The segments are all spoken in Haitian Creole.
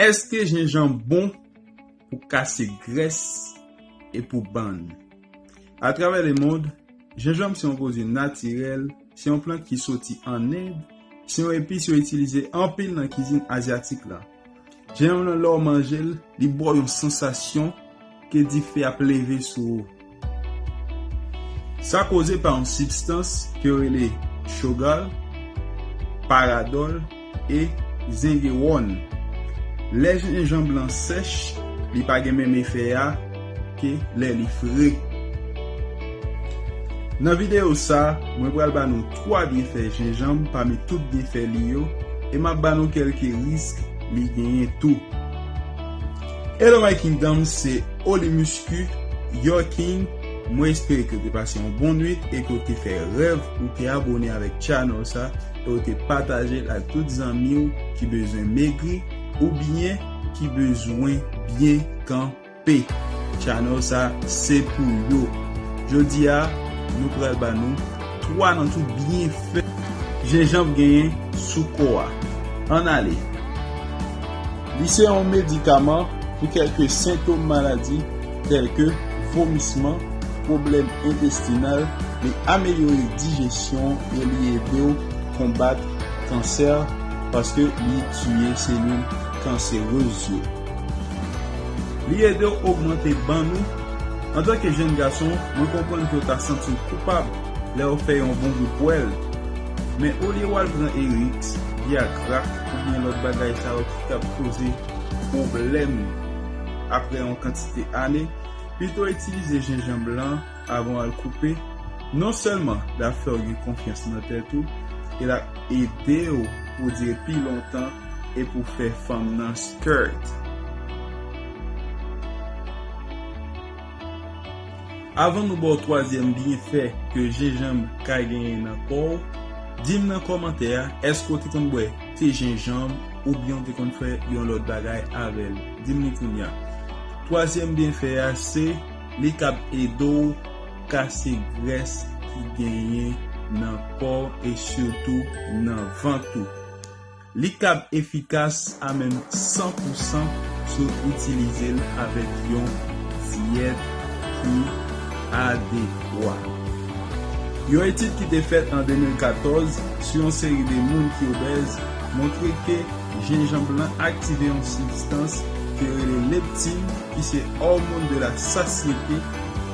Eske jenjan bon pou kase grès e pou bann? A travè le mond, jenjanm se yon pwodwi natirèl, se yon plant ki soti ann End, se yon epis yo itilize anpil nan kizin azyatik la. Jenjanm lan lè w manje l, li ba w yon sansasyon. Ke dife ap leve sou ou. Sa koze pa yon sibstans ke yo rele Chogal, Paradòl e Zengewòn. Lè jenjanb lan sèch, li pa gen menm efè a ke lè li fre. Nan videyo sa, mwen pral ba nou 3 byenfè jenjanb pami tout byenfè li yo e m ap ba nou kelke risk li genyen tou. Hello my kingdom se Oli Muscu your king mwen espere ke ou te pase yon bon nwit e ke ou te fè rèv ou te abone avèk channel sa e ou te patajel ak tout zanmiw ki bezwen megri ou byen ki bezwen byen kanpe channel sa se pou yo jodi a nou pral ba nou 3 nan tout byenfè jenjanb genyen sou kò a ann ale. Li se yon medikaman pou kèlke sentom maladi tèlke vomisman, pwoblèm entestinal, li amelyore dijesyon e li ede w konbat kansè paske li tiye selil kanserez yo. Li ede w ogmante bann ou. Antanke jenn gason, mwen konprann ke w ta santi w koupab lè w fè yon bon gou pwèl, men olye w al pran Eriks, Viagra, oubyen lòt bagay sa yo ki kab koze pwoblèm aprè yon kantite ane, pito itilize jenjanm blan avan w al koupe, non sèlman l ap fè w gen konfyans nan tèt ou e l ap ede w pou w dire pi lontan e pou w fè fanm nan skirt. Avan nou baw twazyèm byenfè ke jenjanm ka genyen nan kòw, dim nan kòmantè a èske w te konn bwè te jenjanm oubyen w te konn fè yon lòt bagay avèl dim li kounya. Twazyèm byenfè a se li kab ede w kase grès ki genyen nan kòw e sitou nan vant ou. Li kab efikas a menm san pou san si w itilize l avèk yon dyèt ki adekwa. Yon etid ki te fèt an 2014 sou yon seri de moun ki obèz montre ke jenjanb lan aktive yon sibstans yo rele leptin ki se òmon de la sasyete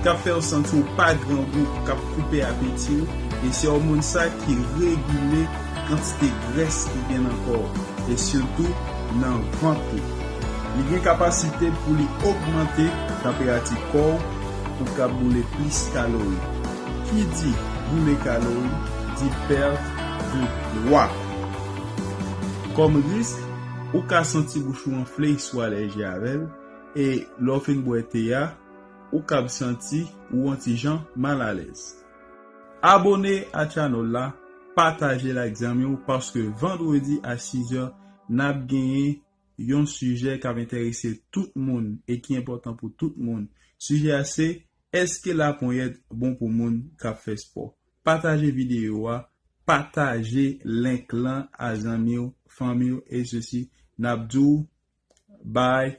k ap fè w santi w pa grangou, k ap koupe apeti w, e se òmon sa ki regile Kantite grès ki gen nan kò w, e sitou nan vant ou. Li gen kapasite pou li ogmante tanperati kò w pou ka boule plis kalori. Ki di boule kalori di perte de pwa. Kòm risk, ou ka santi bouch ou anfle si w alèji avè l, e lè w fin bwè te a, ou kab santi ou on ti jan mal alèz. Abone a channel la, patajel ak zanmiw paske vendredi a 6 heures nap genyen Yon sijè kap entèrese tout moun e ki enpòtan pou tout moun sijè a se eske laponyèt bon pou moun kap fè spò pataje video a pataje link lan a zanmiw fanmiw e sesi nap diw bye.